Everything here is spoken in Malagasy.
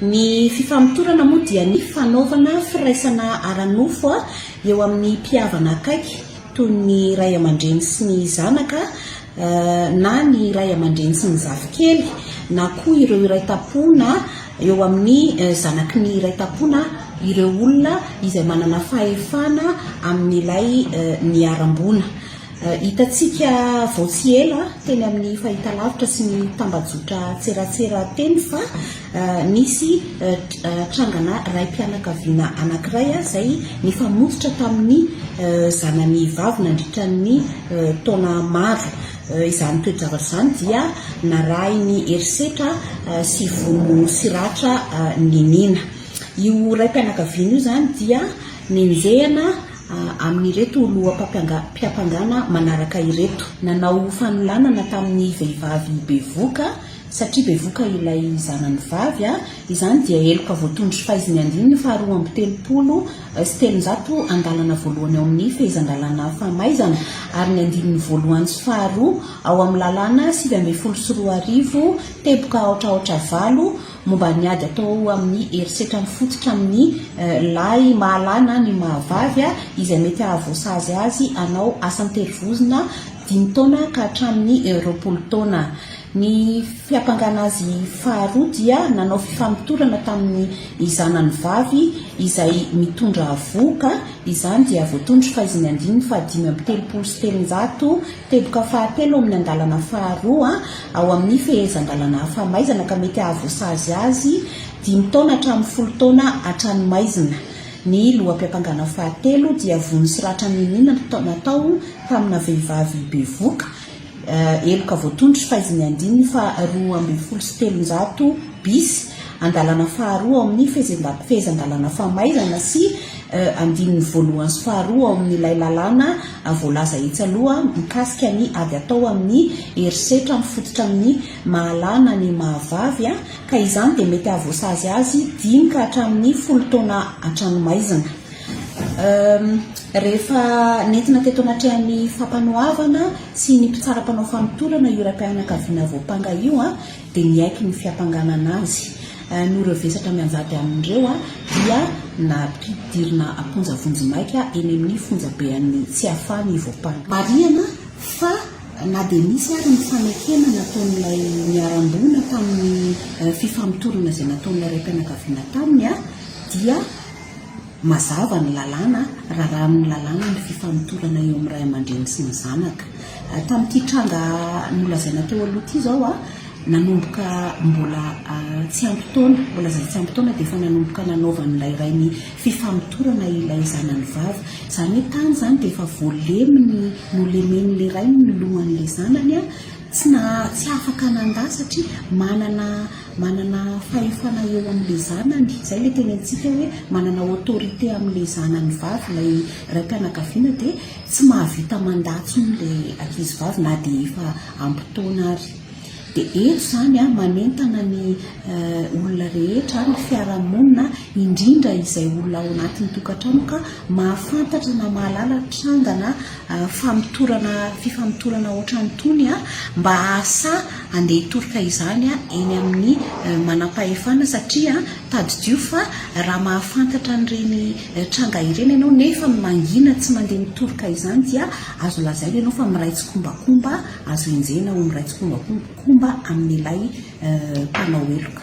Ny fifamotorana moa dia ny fanaovana firaisana ara-nofo eo amin'ny mpihavana akaiky toy ny ray aman-dreny sy ny zanaka na ny ray aman-dreny sy ny zafikely na koa ireo iray tam-pona eo amin'ny zanaky ny iray tam-pona ireo olona izay manana fahefana amin'ilay niharam-boina. Hitantsika vao tsy ela teny amin'ny fahitalavitra sy ny tambajotran-tseratsera teny fa nisy trangana raim-pianakaviana anankiray izay nifamototra tamin'ny zanany vavy nandritra ny taona maro. Izany toe-javatra izany dia narahin'ny herisetra sy vono sy ratra niniana. Io raim-pianakaviana io izany dia nenjehina amin'ireto loham-piampangana manaraka ireto. Nanao fanolanana tamin'ny vehivavy bevoka satria bevoka ilay zanany vavy, izany dia heloka voatondro sy faizin'ny andininy faharoa amby telopolo sy telonjato andalana voalohany ao amin'ny Fehezan-dalàna Famaizana ary ny andininy voalohany sy faharoa ao amin'ny Lalàna sivy ambin'ny folo sy roa arivo, teboka aotraotra valo, momba ny ady atao ao amin'ny herisetra mifototra amin'ny lahy mahalahy na ny mahavavy izay mety hahavoasazy azy hanao asan-terivozona dimy taona ka hatramin'ny roapolo taona. Ny fiampangana azy faharoa dia nanao fifamotorana tamin'ny zanany vavy izay mitondra vohoka, izany dia voatondro fahiziny andininy fahadimy amby telopolo sy telonjato, Teboka fahatelo amin'ny andalana faharoa ao amin'ny fehezan-dalana afa-maizina ka mety hahavoasazy azy dimy taona hatramin'ny folo taona hatrany maizina. Ny loham-piampangana fahatelo dia vono sy ratra niniana natao tamina vehivavy bevoka, heloka voatondro sy faizin'ny andininy faha roa ambin'ny folo sy telonjato bis, andalana faharoa ao amin'ny fehezan-dalana afa-maizana, sy. andininy voalohany sy faharoa ao amin' ilay lalàna voalaza etsy aloha mikasika ny ady atao amin' ny herisetra mifototra amin' ny maha-lahy na ny maha-vavy, ka izany dia mety hahavoasazy azy dimy ka hatramin' ny folo taona an-tranomaizina. Rehefa nentina teto anatrehan' ny Fampanoavana sy ny mpitsara mpanao famotorana io raim-pianakaviana voampanga io, dia niaiky ny fiampanganana azy noho ireo vesatra mianjady amin'ireo dia nampidirina am-ponja vonjimaika eny amin'ny fonjabean'ny Tsiafahy ny voampanga. Marihana fa na dia nisy ary ny fanekena nataon'ilay niharam-boina tamin'ny fifamotorana izay nataon'ilay raim-pianakaviana taminy dia. Mazava ny lalàna, rarahan'ny lalàna ny fifanotorana eo amin'ny ray aman-dreny sy ny zanaka. Tamin'ity tranga nolazaina teo aloha ity izao, nanomboka mbola tsy ampy taona, mbola izay tsy ampy taona dia efa nanomboka nanaovan'ilay ray ny fifanotorana ilay zanany vavy. Izany hoe tany izany dia efa voaleminy, nolemen'ilay ray ny lohan'ilay zanany, tsy naha, tsy afaka nandà satria manana Manana fahefana eo amin'ilay zanany. Izay ilay tenentsika hoe manana autorité amin'ilay zanany vavy ilay raim-pianakaviana dia tsy mahavita mandat intsony ilay ankizy vavy na dia efa ampy taona ary. Dia eto izany manentana ny olona rehetra, ny fiarahamonina, indrindra izay olona ao anatin'ny tokantrano ka mahafantatra na mahalala trangana famotorana, fifamotorana ohatran'itony mba hahasaha Andeha hitoroka izany eny amin'ny manampahefana satria tadidio fa raha mahafantatra an'ireny tranga ireny ianao nefa mangina tsy mandeha mitoroka izany dia azo lazaina ianao fa miray tsikombakomba, azo enjehina ho miray tsikombakomba amin'ilay mpanao heloka.